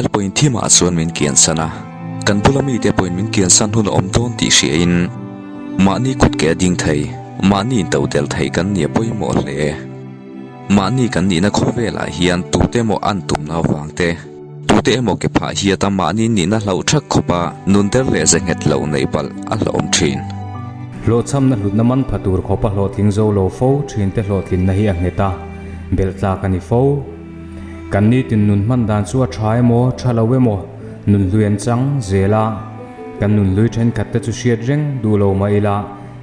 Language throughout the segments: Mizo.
Bel pawhin thimah chuan min kian san a, kan bula mite pawhin min kian san hun a awm dawn tih hriain mahni kut ke a ding thei, mahni in to tel thei kan nia pawimawh hle. Mahni kan nihna khawvelah hian tute emaw an tum nau vangte, tute emaw ke phah hiat a mahni nihna hlauh thak khawp a, nun der leh ze nghet loh neih palh a hlawm thin. Hlawhchhamna hlutna man pha tur khawpa hlawhtling zo lo fo thinte hlawhtlinna hi a nghet a, belh tlak a ni fo. Kan nitin nun hman dan chu a tha emaw, tha lo emaw, nun hlui an chang zel a, kan nun hlui thenkhat te chu hriat reng duh lo mah ila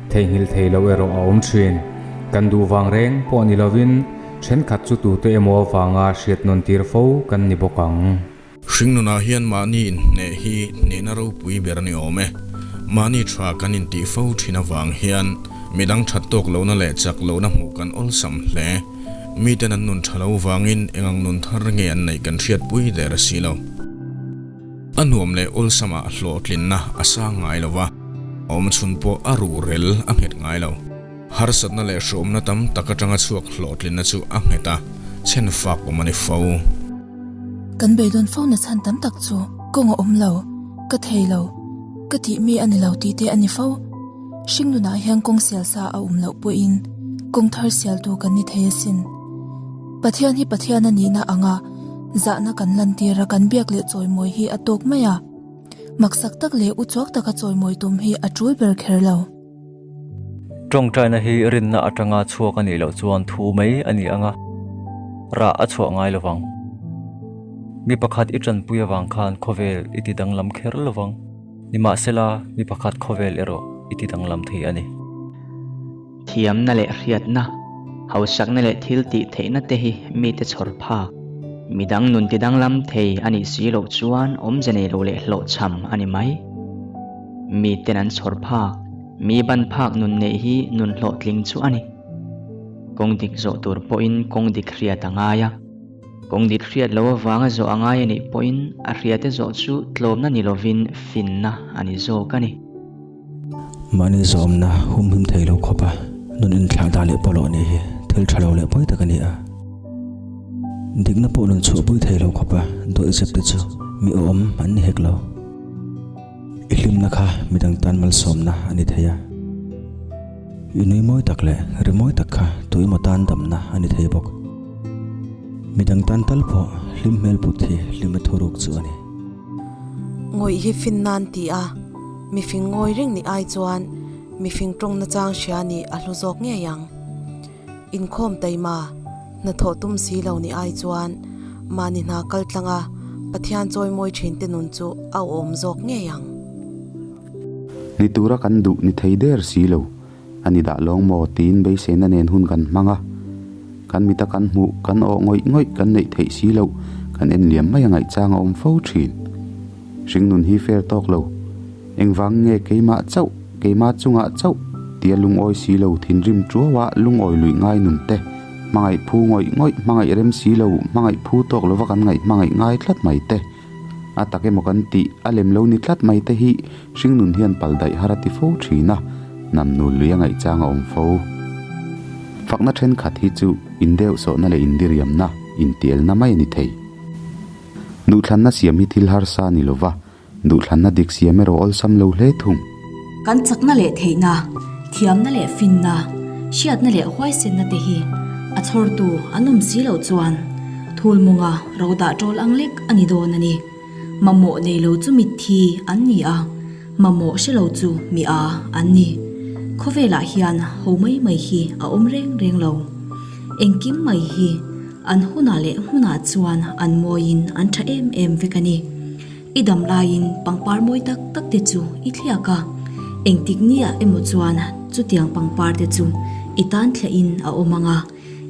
theihnghilh thei loh erawh a awm thin. Kan duh vang reng pawh ni lovin thenkhat chu tute emaw avanga hriatnawn tir fo kan ni bawk ang. Hringnunah hian mahni hneh hi hnehna ropui ber ni awm e. Mahni tha kan intih fo thin avang hian midang that tawk lohna leh chak lohna hmuh kan awlsam hle. Miten an nun tha lo vangin engang nun thar nge an neih kan hriatpui der a si lo. A nuam leh awlsama hlawhtlinna a sang ngai lo va, awmchhun pawh a ruhrel a nghet ngai lo. Harsatna leh hruhawmna tam tak atanga chhuak hlawhtlinna chu a nghet a, chhen fak awm a ni fo. Kan bei dawn fo na chhan tam tak chu kawng a awm lo, ka thei lo, ka tih mi a ni lo tih te a ni fo. Hringnunah hian kawng sial sa a awm loh pawhin kawng thar sial tu kan ni thei a sin. Pathian hi Pathian a nihna anga zahna kan lantir a, kan biak leh chawimawi hi a tawk mai a, maksak tak leh uchuak taka chawimawi tum hi a tul ber kher lo. Tawngtaina hi rinna atanga chhuak a nih loh chuan thu mai a ni anga rah a chhuah ngai lovang. Mi pakhat i tanpui avang khan khawvel i ti danglam kher lovang. Nimahsela, mi pakhat khawvel erawh i ti danglam thei a ni. Thiamna leh hriatna, hausakna leh thil tih theihna te hi mite chhawr phak, midang nun ti danglam thei a nih si loh chuan awmze nei lo leh hlawhchham a ni mai. mi ten an chhawr phak, mi ban phak nun neih hi nun hlawh tling chu a ni. Kawng dik zawh tur pawhin kawng dik hriat a ngai a, kawng dik hriat lo avanga zawh a ngai a nih pawhin a hriat e zawh chu tlawmna ni lovin finna a ni zawk a ni. Mahni zawmna humhim thei lo khawpa nun inthlah dah leh pawh loh nih hi thil tha lo leh pawi tak a ni a. Dikna pawh nun chhuahpui thei lo khawpa dawihzep te chu mi awm an ni hek lo. I hlimna kha midang tan malsawmna a ni thei a. I nui mawi tak leh ri mawi tak kha tui maw tan damna a ni thei bawk. Midang tan tal pawh hlim hmel put hi hlima thuruk chu a ni. Ngawih hi fin nan ti a, mifing ngawi reng nih ai chuan mifing tawngna chang hria nih a hlu zawk ngei ang. Inkhawm taima hnathawh tum si lo ni ai chuan mahni hna kal tlanga Pathian chawimawi thinte nun chu a awm zawk ngei ang. Ni tura kan duh ni thei der si lo a ni dah lawng maw tiin beiseina nen hun kan hmang a. Kan mita kan hmuh, kan awh ngawih ngawih, kan neih theih si loh, kan en liam mai a ngaihchang a awm fo thin. Hringnun hi fair tawk lo. Engvang nge keimah chauh, keimah chungah chauh tia lungawi si lo thinrim ṭuau a lungawi luih ngai nun te, hmangaih phu ngawih ngawih hmangaih rem si lo hmangaih phu tawk lova kan ngaih hmangaih ngai tlat mai te a tak emaw kan tih a lem lo ni tlat mai te hi Hringnun hian paldaih har a ti fo ṭhin a, nam nul luih a ngaihchang a awm fo. Fakna ṭhenkhat hi chu indeuhsawhna leh indiriamna, intialna mai a ni thei. Duhthlanna siam hi thil harsa ni lo va, duhthlanna dik siam erawh awlsam lo hle thung. Kan chakna leh theihna, thiamna leh finna, hriatna leh huaisenna te hi a chhawrtu an awm si loh chuan thul mawnga ro dah tawl ang lek a ni dawn a ni. Mamawh nei lo chu mitthi an ni a, mamawh hre lo chu mi a an ni. Khawvelah hian ho mai mai hi a awm reng reng lo. Engkim mai hi. An hunah leh hmunah chuan an mawiin an tha em em vek a ni. I dam laiin pangpar mawi tak tak te chu i thliak a, engtik nge ah emaw chuan chutiang pangpar te chu i tan thlahin a awm ang a,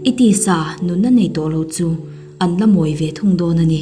i tisa nunna nei tawh lo chu an la mawi ve thung dawn a ni.